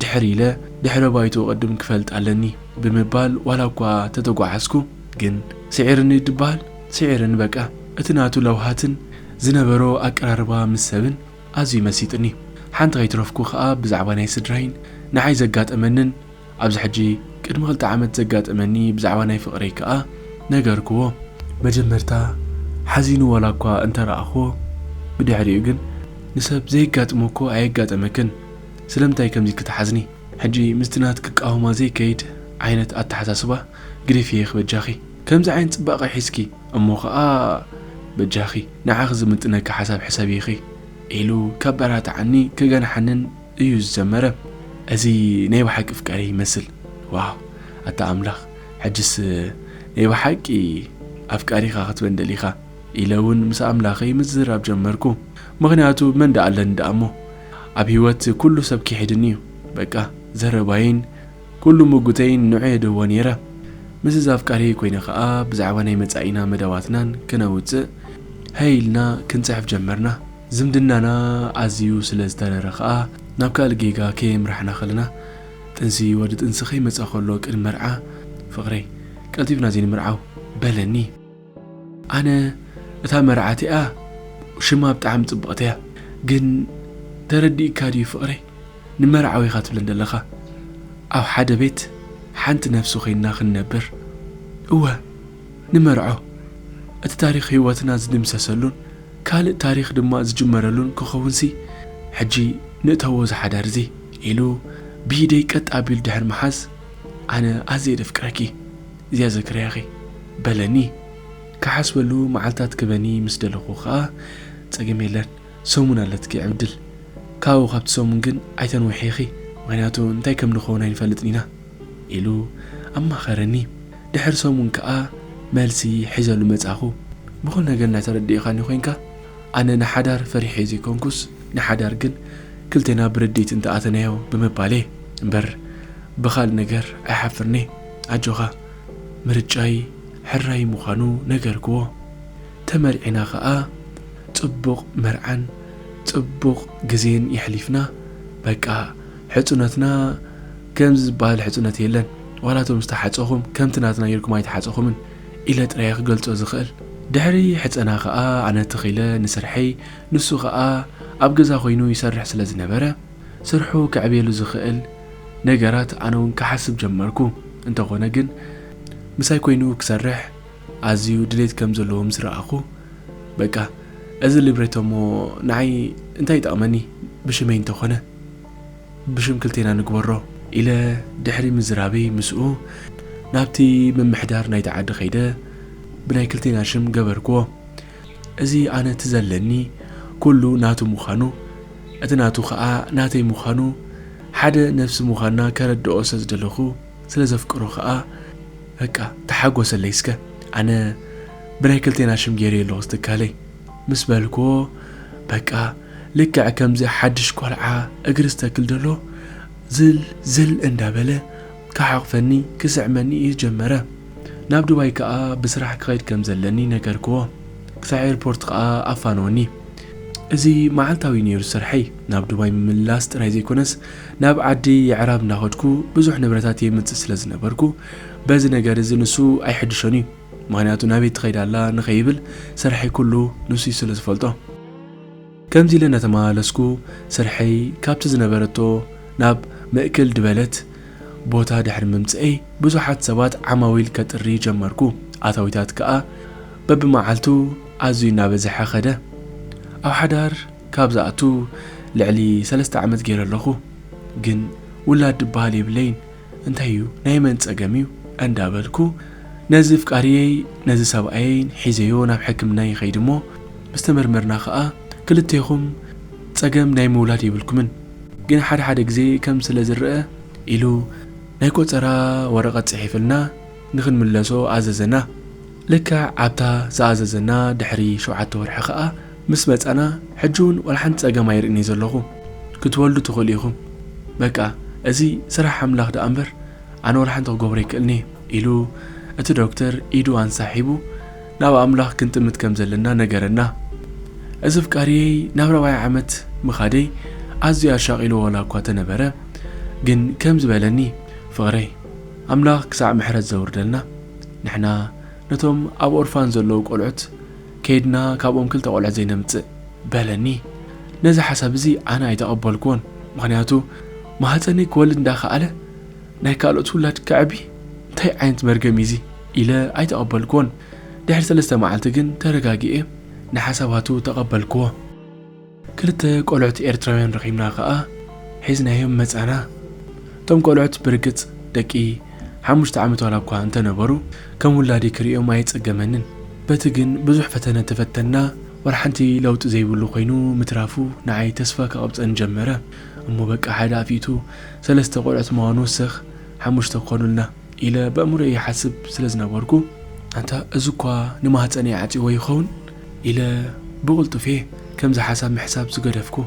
ድሕር ኢለ ድሕረ ባይትኡ ቅድም ክፈልጥ ኣለኒ ብምባል ዋላ እኳ ተተጓዓዝኩ ግን ስዒርኒ ድበሃል ስዒርኒ በቃ እቲ ናቱ ለውሃትን ዝነበሮ ኣቀራርባ ምስ ሰብን ኣዝዩ መሲጥኒ ሓንቲ ከይትረፍኩ ከኣ ብዛዕባ ናይ ስድራይን ንዓይ ዘጋጠመንን ኣብዚ ሕጂ ቅድሚ ክልተ ዓመት ዘጋጠመኒ ብዛዕባ ናይ ፍቅረይ ክኣ ነገርክዎ። መጀመርታ ሓዚኑ ዋላኳ እንተረኣክዎ ብድሕሪኡ ግን ንሰብ ዘየጋጥሞ እኮ ኣየጋጠመክን ስለምንታይ ከምዚ ክትሓዝኒ ሕጂ ምስቲ ናትኪ ቃውማ ዘይከይድ ዓይነት ኣተሓሳስባ ግደፍዬክ በጃኺ ከምዚ ዓይነት ጽባቀ ሒዝኪ እሞ ክኣ በጃኺ ንዓኺ ዝምጥነኪ ሓሳብ ሕሰብዪኺ ኢሉ ከበራትዓኒ ከገንሓንን እዩ ዝጀመረ እዚ ናይ ብሓቂ ፍቃሪ ይመስል ዋው ኣታ ኣምላኽ ሕጅስ ናይ ብሓቂ ኣፍቃሪኻ ክትበን ደሊኻ ኢለ እውን ምስ ኣምላኸይ ምዝራብ ጀመርኩ ምክንያቱ መን ደኣ ኣለኒ ደኣ እሞ ኣብ ህይወት ኩሉ ሰብ ክሒድኒ እዩ በቃ ዘረባይን ኩሉ ምጉተይን ንዑ የደዎ ነይረ ምስ እዛ ኣፍቃሪይ ኮይነ ከዓ ብዛዕባ ናይ መፃኢና መደባትናን ክነውፅእ ሀይ ኢልና ክንፅሕፍ ጀመርና ዝምድናና ኣዝዩ ስለ ዝተረረ ከኣ ናብ ካልእ ጌጋ ከየምራሕና ከለና ጥንሲ ወዲ ጥንሲ ከይመጸ ከሎ ቅድሚ መርዓ ፍቅረይ ቀልጢፍና ዘይንምርዓው በለኒ ኣነ እታ መርዓቲኣ ሽማ ብጣዕሚ ጽብቅቲያ ግን ተረዲእካ ድዩ ፍቅረይ ንመርዓዊ ኢካ ትብለን ዘለካ ኣብ ሓደ ቤት ሓንቲ ነፍሲ ኮይንና ክንነብር እወ ንመርዖ፣ እቲ ታሪኽ ህይወትና ዝድምሰሰሉን ካልእ ታሪኽ ድማ ዝጅመረሉን ክኸውንሲ ሕጂ ንእተዎ እዚ ሓዳር'ዚ ኢሉ ብኢደይ ቀጥ ኣቢሉ ድሕሪ ምሓዝ፣ ኣነ ኣዝየ ደፍቅረኪ፣ ዚያዘክርያኺ። በለኒ። ክሓስበሉ መዓልታት ክበኒ ምስ ደለኹ ከኣ፣ ጸገም የለን፣ ሰሙን ኣለትኪ ዕብድል። ካብኡ ካብቲ ሰሙን ግን ኣይተንውሕዪኺ፣ ምኽንያቱ እንታይ ከም ንኸውን ኣይንፈልጥን ኢና። ኢሉ ኣማኸረኒ። ድሕሪ ሰሙን ከኣ መልሲ ሒዘሉ መጻኹ። ብኹሉ ነገር እናተረዳኢኻኒ ኮይንካ፣ ኣነ ንሓዳር ፈሪሐዮ ዘይኮንኩስ፣ ንሓዳር ግን ክልቴና ብርድኢት እንተ ኣተናዮ ብምባለይ እምበር ብኻልእ ነገር ኣይሓፍርን'የ። ኣጆኻ! ምርጫይ ሕራይ ምዃኑ ነገርክዎ። ተመርዒና ከኣ ጽቡቕ መርዓን ጽቡቕ ግዜን የሕሊፍና። በቃ ሕጹነትና ከምዚ ዝበሃል ሕጹነት የለን። ዋላ እቶም ዝተሓጸኹም ከምቲ ናትና ጌርኩም ኣይተሓጸኹምን ኢለ ጥራይ እየ ክገልጾ ዝኽእል። ድሕሪ ሕጸና ከኣ ኣነ ትኽ ኢለ ንስርሐይ ንሱ ከኣ ኣብ ገዛ ኮይኑ ይሰርሕ ስለ ዝነበረ ስርሑ ከዕብየሉ ዝኽእል ነገራት ኣነ ውን ክሓስብ ጀመርኩ። እንተኾነ ግን ምሳይ ኮይኑ ክሰርሕ ኣዝዩ ድሌት ከም ዘለዎ ምስ ረኣኹ በቃ እዚ ሊብሬቶ እሞ ንዓይ እንታይ ይጠቕመኒ ብሽመይ እንተኾነ ብሽም ክልቴና ንግበሮ ኢለ ድሕሪ ምዝራበይ ምስኡ ናብቲ ምምሕዳር ናይቲ ዓዲ ከይደ ብናይ ክልቴና ሽም ገበርክዎ። እዚ ኣነ እቲ ዘለኒ ኩሉ ናቱ ምዃኑ እቲ ናቱ ከኣ ናተይ ምዃኑ ሓደ ነፍሲ ምዃንና ከረድኦ ስለ ዝደለኹ ስለ ዘፍቅሮ ከኣ በቃ ተሓጎሰለይ እስከ ኣነ ብናይ ክልቴና ሽም ገይረዮ ኣለኹ ዝትካለይ። ምስ በልክዎ በቃ ልክዕ ከምዚ ሓድሽ ቆልዓ እግሪ ዝተክል ደሎ ዝል ዝል እንዳ በለ ክሓቕፈኒ ክስዕመኒ እዩ ጀመረ። ናብ ዱባይ ከኣ ብስራሕ ክኸይድ ከም ዘለኒ ነገርክዎ። ክሳዕ ኤርፖርት ከኣ ኣፋነወኒ። እዚ መዓልታዊ ነይሩ ስርሐይ። ናብ ዱባይ ምምልላስ ጥራይ ዘይኮነስ ናብ ዓዲ የዕራብ እንዳኸድኩ ብዙሕ ንብረታት የምጽእ ስለ ዝነበርኩ በዚ ነገር እዚ ንሱ ኣይሕድሾን እዩ። ምኽንያቱ ናበይ ትኸይድ ኣላ ንኸይብል ስርሐይ ኩሉ ንሱይ ስለ ዝፈልጦ። ከምዚ ኢለ እናተመላለስኩ ስርሐይ ካብቲ ዝነበረቶ ናብ ምእክል ድበለት ቦታ ድሕሪ ምምጽእይ ብዙሓት ሰባት ዓማዊል ከጥሪ ጀመርኩ ኣታዊታት ከኣ በብመዓልቱ ኣዝዩ እናበዝሐ ከደ ኣብ ሓዳር ካብ ዝኣቱ ልዕሊ ሰለስተ ዓመት ጌረ ኣለኹ ግን ውላድ ድበሃል የብለይን እንታይ እዩ ናይ መን ጸገም እዩ እንዳ በልኩ ነዚ ፍቃርየይ ነዚ ሰብኣየይን ሒዘዮ ናብ ሕክምና ይኸይድ እሞ ምስ ተመርመርና ከኣ ክልቴኹም ጸገም ናይ ምውላድ የብልኩምን ግን ሓደ ሓደ ግዜ ከም ስለ ዝረኣ ኢሉ ናይ ቆጸራ ወረቀት ጽሒፍልና ንኽንምለሶ ኣዘዘና ልክዕ ኣብታ ዝኣዘዘና ድሕሪ ሸውዓተ ወርሒ ከኣ ምስ መጸና ሕጂ ውን ዋላ ሓንቲ ጸገም ኣይርእን እየ ዘለኹ ክትወልዱ ትኽእሉ ኢኹም በቃ እዚ ስራሕ ኣምላኽ ድኣ እምበር ኣነ ዋላ ሓንቲ ክገብሮ ኣይክእልን እየ ኢሉ እቲ ዶክተር ኢዱ ኣንሳሒቡ ናብ ኣምላኽ ክንጥምት ከም ዘለና ነገረና እዚ ፍቃርየይ ናብ ራብዓይ ዓመት ምኻደይ ኣዝዩ ኣሻቒልዎ ዋላ እኳ ተነበረ ግን ከምዚ በለኒ ፍቕረይ ኣምላኽ ክሳዕ ምሕረት ዘውርደልና ንሕና ነቶም ኣብ ኦርፋን ዘለዉ ቆልዑት ከይድና ካብኦም ክልተ ቆልዑ ዘይነምጽእ በለኒ ነዚ ሓሳብ እዚ ኣነ ኣይተቀበልክዎን ምክንያቱ ማህጸነይ ክወልድ እንዳ ከኣለ ናይ ካልኦት ውላድ ከዕቢ እንታይ ዓይነት መርገም እዩ እዚ ኢለ ኣይተቀበልክዎን ድሕሪ ሰለስተ መዓልቲ ግን ተረጋጊኤ ንሓሳባቱ ተቀበልክዎ ክልተ ቆልዑት ኤርትራውያን ረኺብና ከኣ ሒዝናዮም መጻና። እቶም ቆልዑት ብርግጽ ደቂ ሓሙሽተ ዓመት ዋላ እኳ እንተ ነበሩ ከም ውላደይ ክርእዮም ኣየጸገመንን። በቲ ግን ብዙሕ ፈተነ ተፈተንና ወላሓንቲ ለውጢ ዘይብሉ ኮይኑ ምትራፉ ንዓይ ተስፋ ክቐብጸኒ ጀመረ። እሞ በቃ ሓደ ኣፍ ኢቱ ሰለስተ ቆልዑት ምዃኑ ወሰኽ ሓሙሽተ ክኾኑልና። ኢለ በእምሮይ ይሓስብ ስለ ዝነበርኩ፣ ኣንታ እዚኳ ንማህጸነይ ዓጽይዎ ይኸውን? ኢለ ብቕልጡፍ'የ ከምዚ ሓሳብ ምሕሳብ ዝገደፍኩ።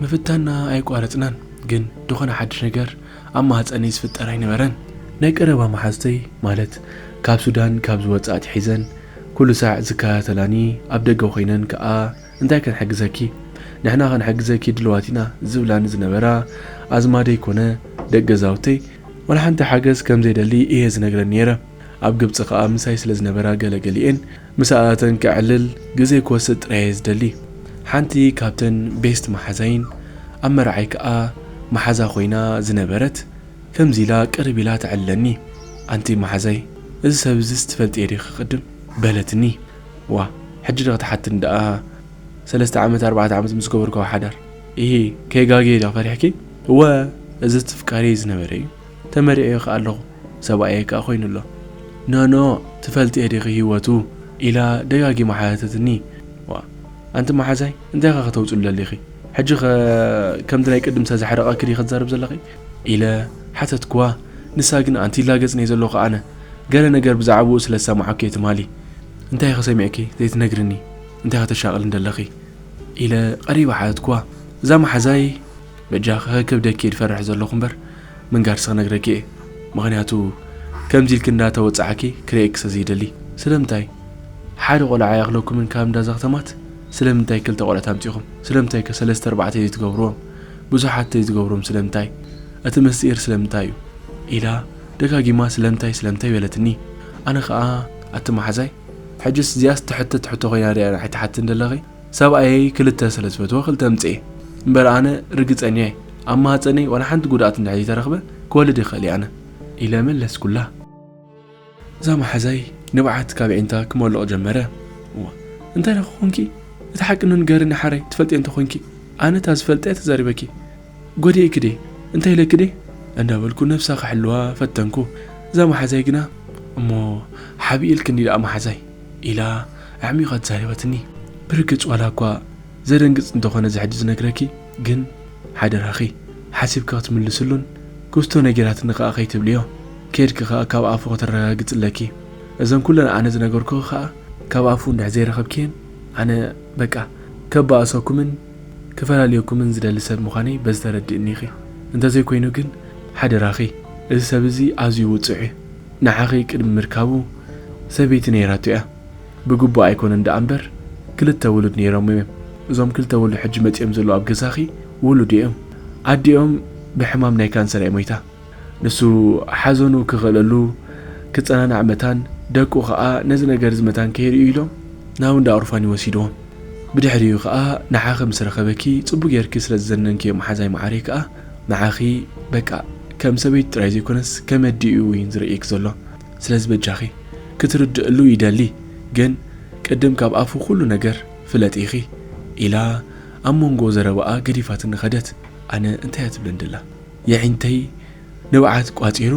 ምፍታንና ኣየቋረጽናን፣ ግን ድኾነ ሓድሽ ነገር ኣብ ማህጸነይ ዝፍጠር ኣይነበረን። ናይ ቀረባ መሓዙተይ፣ ማለት ካብ ሱዳን ካብ ዝወጽኣ ኣትሒዘን ኩሉ ሳዕ ዝከታተላኒ፣ ኣብ ደገ ኮይነን ከኣ፣ እንታይ ክንሕግዘኪ ንሕና ክንሕግዘኪ ድልዋት ኢና ዝብላኒ ዝነበራ ኣዝማደይ ኮነ ደቂ ገዛውተይ ዋላ ሓንቲ ሓገዝ ከም ዘይደሊ እየ ዝነግረን ነይረ። ኣብ ግብጺ ከኣ ምሳይ ስለ ዝነበራ ገለ ገሊኤን ምሳኣተን ከዕልል ግዜ ክወስድ ጥራይ እየ ዝደሊ። ሓንቲ ካብተን ቤስት መሓዛይን ኣብ መርዓይ ከኣ መሓዛ ኮይና ዝነበረት ከምዚ ኢላ ቅርብ ኢላ ተዕልለኒ ኣንቲ መሓዛይ እዚ ሰብ እዚስ ትፈልጥዮ ዲኺ ቅድም? በለትኒ። ዋእ ሕጂ ዶ ክትሓትኒ ደኣ ሰለስተ ዓመት ኣርባዕተ ዓመት ምስ ገበርክዎ ሓዳር ኢሂ ከይጋግየ ዶ ፈሪሕኪ እወ እዚ ትፍቃርየይ ዝነበረ እዩ ተመሪዐዮ ከኣ ኣለኹ ሰብኣየይ ከኣ ኮይኑ ኣሎ ኖኖ ትፈልጥዮ ዲኺ ሂወቱ ኢላ ደጋጊማ ሓተተትኒ ዋእ ኣንቲ መሓዛይ እንታይ ኢኺ ከተውጽሉ ደሊኺ ሕጂ ከ ከምቲ ናይ ቅድም ዝተዘሕረቐኪ ዲኺ ክትዛረብ ዘለኺ ኢለ ሓተትክዋ ንሳ ግን ኣንቲ ላገጽኒ እየ ዘለኹ ኣነ ገለ ነገር ብዛዕብኡ ስለ ዝሰማዕኩ'የ ትማሊ። እንታይ'ኸ ሰሚዕኪ ዘይትነግርኒ? እንታይ'ኸ ተሻቕልኒ ደለኺ? ኢለ ቐሪበ ሓተትክዋ። እዛ መሓዛይ በጃኺ ከከብደኪ'የ ዝፈርሕ ዘለኹ እምበር ምንጋርሲ ክነግረኪ'የ። ምኽንያቱ ከምዚ ኢልኪ እንዳ ተወጻዕኪ ክርእየኪ ስለ ዘይደሊ። ስለምንታይ ሓደ ቖልዓ ኣይኣኽለኩምን ካብ እንዳ ዘኽተማት? ስለምንታይ ክልተ ቖልዑት ኣምጺኹም? ስለምንታይ'ከ ሰለስተ ኣርባዕተ ዘይትገብርዎም? ብዙሓት ዘይትገብርዎም ስለምንታይ? እቲ ምስጢር ስለምንታይ'ዩ? ኢላ ደጋጊማ ስለምታይ ስለምታይ በለትኒ ኣነ ከኣ ኣቲ ማሓዛይ ሕጅስ እዚኣስ ትሕተት ሕቶ ኮይና ዲኣ ንዓይ ትሓትኒ ደለኺ ሰብኣየይ ክልተ ስለ ዝፈትወ ክልተ ኣምጽኤ እምበር ኣነ ርግጸኛ እየ ኣብ ማህጸነይ ዋላ ሓንቲ ጉድኣት እንድሕር ዘይተረኽበ ክወልድ ይኽእል እየ ኣነ ኢለ መለስኩላ። እዛ ማሓዛይ ንብዓት ካብ ኣዒንታ ክመልቕ ጀመረ እወ እንታይ ደኺ ኮንኪ እቲ ሓቂ ንገርኒ ሓረይ ትፈልጥዮ እንተ ኮንኪ ኣነ እታ ዝፈልጠ እየ ተዛሪበኪ ጐዲኤ ክዴ እንታይ ኢለ ክዴ እንዳበልኩ ነብሳ ክሕልዋ ፈተንኩ እዛ ማሓዛይ ግና እሞ ሓብኢ ኢልክኒ ዳኣ ማሓዛይ ኢላ ኣዕሚቛ ተዛሪባትኒ ብርግጽ ዋላ እኳ ዘደንግጽ እንተኾነ እዚ ሕጂ ዝነግረኪ ግን ሓደራኺ ሓሲብኪ ክትምልስሉን ክስቶ ነጊራትኒ ካኣ ከይትብልዮ ከድኪ ካኣ ካብ ኣፉ ከተረጋግጺ ኣለኪ እዘን ኩለን ኣነ ዝነገርኩኺ ካኣ ካብ ኣፉ እንድሕር ዘይረኸብክየን ኣነ በቃ ከባእሰኩምን ክፈላልየኩምን ዝደሊ ሰብ ምዃነይ በዚ ተረድእኒ ኢኺ። እንተዘይኮይኑ ግን ሓደራኺ እዚ ሰብ እዚ ኣዝዩ ውጹዕ እዩ። ንዓኺ ቅድሚ ምርካቡ ሰበይቲ ነይራቶ እያ። ብግቡእ ኣይኮነን ደኣ እምበር ክልተ ውሉድ ነይሮሞ እዮም። እዞም ክልተ ውሉድ ሕጂ መጺኦም ዘለዉ ኣብ ገዛኺ ውሉዱ እዮም። ኣዲኦም ብሕማም ናይ ካንሰር እያ ሞይታ። ንሱ ሓዘኑ ክኽእለሉ ክጸናናዕ መታን ደቁ ከኣ ነዚ ነገር እዚ መታን ከይርእዩ ኢሎም ናብ እንዳ ኦርፋን ይወሲድዎም። ብድሕሪኡ ከኣ ንዓኺ ምስ ረኸበኪ ጽቡቕ ጌርኪ ስለ ዝዘነንክዮ መሓዛይ መዓረይ ከኣ ንዓኺ በቃ ከም ሰበይቲ ጥራይ ዘይኮነስ ከም ኣዲኡ እዩን ዝርእየኪ ዘሎ ስለዚ በጃኺ ክትርድእሉ ይደሊ ግን ቅድም ካብ ኣፉ ኩሉ ነገር ፍለጢ ኢኺ ኢላ ኣብ መንጎ ዘረባኣ ገዲፋትኒ ከደት። ኣነ እንታይ እያ ትብለኒ ደላ? የዒንተይ ንብዓት ቋጺሩ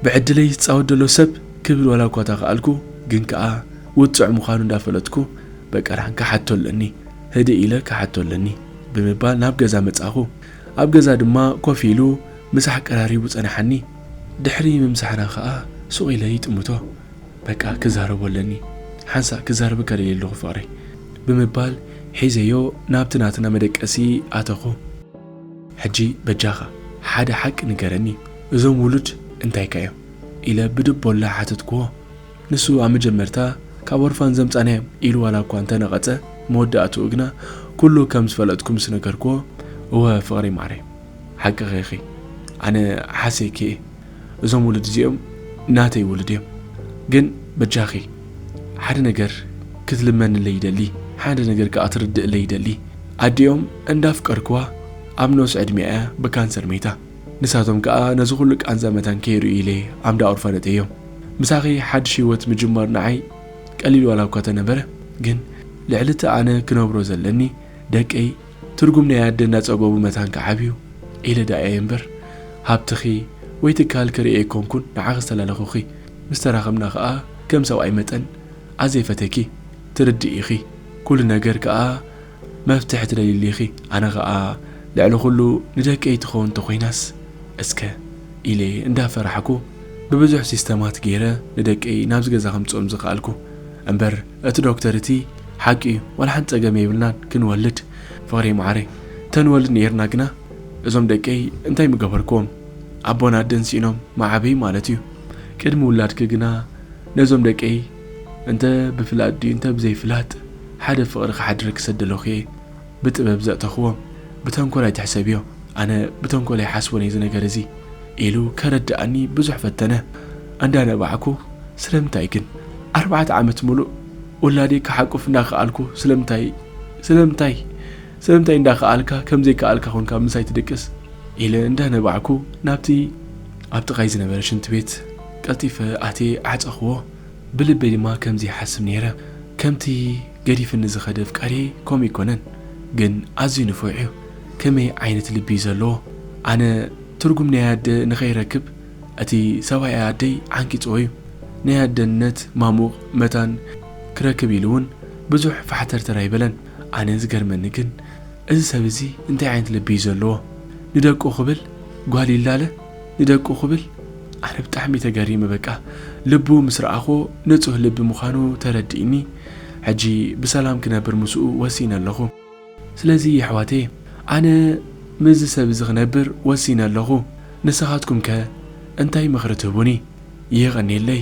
ብዕድለይ ዝጻወት ዘሎ ሰብ ክብል ዋላ እኳ ተኻኣልኩ ግን ከኣ ውጹዕ ምዃኑ እንዳፈለጥኩ በቀርሃን ክሓቶ ኣለኒ ህድእ ኢለ ክሓቶ ኣለኒ ብምባል ናብ ገዛ መጻኹ ኣብ ገዛ ድማ ኮፍ ኢሉ ምሳሕ ቀራሪቡ ጸናሓኒ ድሕሪ ምምሳሕና ከኣ ሱቕ ኢለ ይጥምቶ በቃ ክዛረቦ ኣለኒ ሓንሳእ ክዛረበካ ደልየ ኣለኹ ፍቕረይ ብምባል ሒዘዮ ናብቲ ናትና መደቀሲ ኣተኹ። ሕጂ በጃኻ ሓደ ሓቂ ንገረኒ እዞም ውሉድ እንታይከ እዮም? ኢለ ብድቦላ ሓተትክዎ። ንሱ ኣብ መጀመርታ ካብ ኦርፋን ዘምጻእናዮም ኢሉ ዋላ እኳ እንተ ነቐጸ መወዳእትኡ ግና ኩሉ ከም ዝፈለጥኩ ምስ ነገርክዎ እወ ፍቕሪ ማዕረይ ሓቅኺ ኢኺ ኣነ ሓሰይኪ እየ እዞም ውሉድ እዚኦም ናተይ ውሉድ እዮም ግን በጃኺ ሓደ ነገር ክትልመንለይ ይደሊ ሓደ ነገር ከኣ ትርድእለይ ይደሊ ኣዲኦም እንዳፍቀርክዋ ኣብ ንኡስ ዕድሜኣ እያ ብካንሰር መይታ ንሳቶም ከኣ ነዚ ኩሉ ቃንዛ መታን ከይርእዩ ኢለ ኣምዳ ኦርፋነተዮም ምሳኺ ሓድሽ ሂወት ምጅማር ንዓይ ቀሊል ዋላ እኳ ተነበረ ግን ልዕሊ እቲ ኣነ ክነብሮ ዘለኒ ደቀይ ትርጉም ናይ ኣደ እናጸበቡ መታን ክዓብዩ ኢለ ደኣ'የ እምበር፣ ሃብትኺ ወይ ትካልኪ ርእየ ኣይኮንኩን ንዓኺ ዝተላለኹኺ። ምስ ተራኸብና ከኣ ከም ሰብኣይ መጠን ኣዝየ ፈቴኪ፣ ትርድእ ኢኺ። ኩሉ ነገር ከኣ መፍትሒ ትደልይሉ ኢኺ። ኣነ ከኣ ልዕሊ ኩሉ ንደቀይ ትኸውን እንተኾይናስ እስከ ኢለ እንዳፈራሕኩ ብብዙሕ ሲስተማት ገይረ ንደቀይ ናብዚ ገዛ ከምጽኦም ዝኸኣልኩ። እምበር እቲ ዶክተር እቲ ሓቂ እዩ ዋላ ሓንቲ ጸገም የብልናን ክንወልድ ፍቅረይ መዓረይ ተንወልድ ነይርና ግና እዞም ደቀይ እንታይ ምገበርክዎም ኣቦን ኣደን ሲኢኖም መዓበይ ማለት እዩ ቅድሚ ውላድኪ ግና ነዞም ደቀይ እንተ ብፍላጥ ድዩ እንተ ብዘይ ፍላጥ ሓደ ፍቅሪ ክሓድረኪ ሰደለኩ እየ ብጥበብ ዘእተኽዎም ብተንኮል ኣይትሕሰብዮ፣ ኣነ ብተንኮል ኣይሓስቦን እየ እዚ ነገር እዚ ኢሉ ከረድኣኒ ብዙሕ ፈተነ። ኣንዳነባዕኩ ስለምንታይ ግን ኣርባዕተ ዓመት ሙሉእ ውላደይ ክሓቁፍ እንዳኸኣልኩ ስለምንታይ ስለምንታይ ስለምንታይ እንዳኸኣልካ ከምዘይከኣልካ ኮንካ ምሳይ ትድቅስ ኢለ እንዳነባዕኩ ናብቲ ኣብ ጥቓይ ዝነበረ ሽንቲ ቤት ቀልጢፈ ኣትየ ዓጸኽዎ። ብልበይ ድማ ከምዚ ይሓስብ ነይረ ከምቲ ገዲፍኒ ዝኸደ ኣፍቃርየይ ከምኡ ኣይኮነን ግን ኣዝዩ ንፉዕ እዩ ከመይ ዓይነት ልቢ እዩ ዘለዎ ኣነ ትርጉም ናይ ኣደ ንኸይረክብ እቲ ሰብኣይ ኣደይ ዓንቂጽዎ እዩ ናይ ኣደነት ማሙቕ መታን ክረክብ ኢሉ ውን ብዙሕ ፋሕተርተር ኣይበለን ኣነ ዝገርመኒ ግን እዚ ሰብ እዚ እንታይ ዓይነት ልቢ እዩ ዘለዎ ንደቁ ክብል ጓል ይላለ ንደቁ ክብል ኣነ ብጣዕሚ ተገሪመ በቃ ልቡ ምስ ረኣኽዎ ንጹህ ልቢ ምዃኑ ተረዲእኒ ሕጂ ብሰላም ክነብር ምስኡ ወሲነ ኣለኹ ስለዚ የሕዋተየ ኣነ ምስዚ ሰብ እዚ ክነብር ወሲነ ኣለኹ ንስኻትኩም ከ እንታይ ምኽሪ ትህቡኒ የቀኔለይ።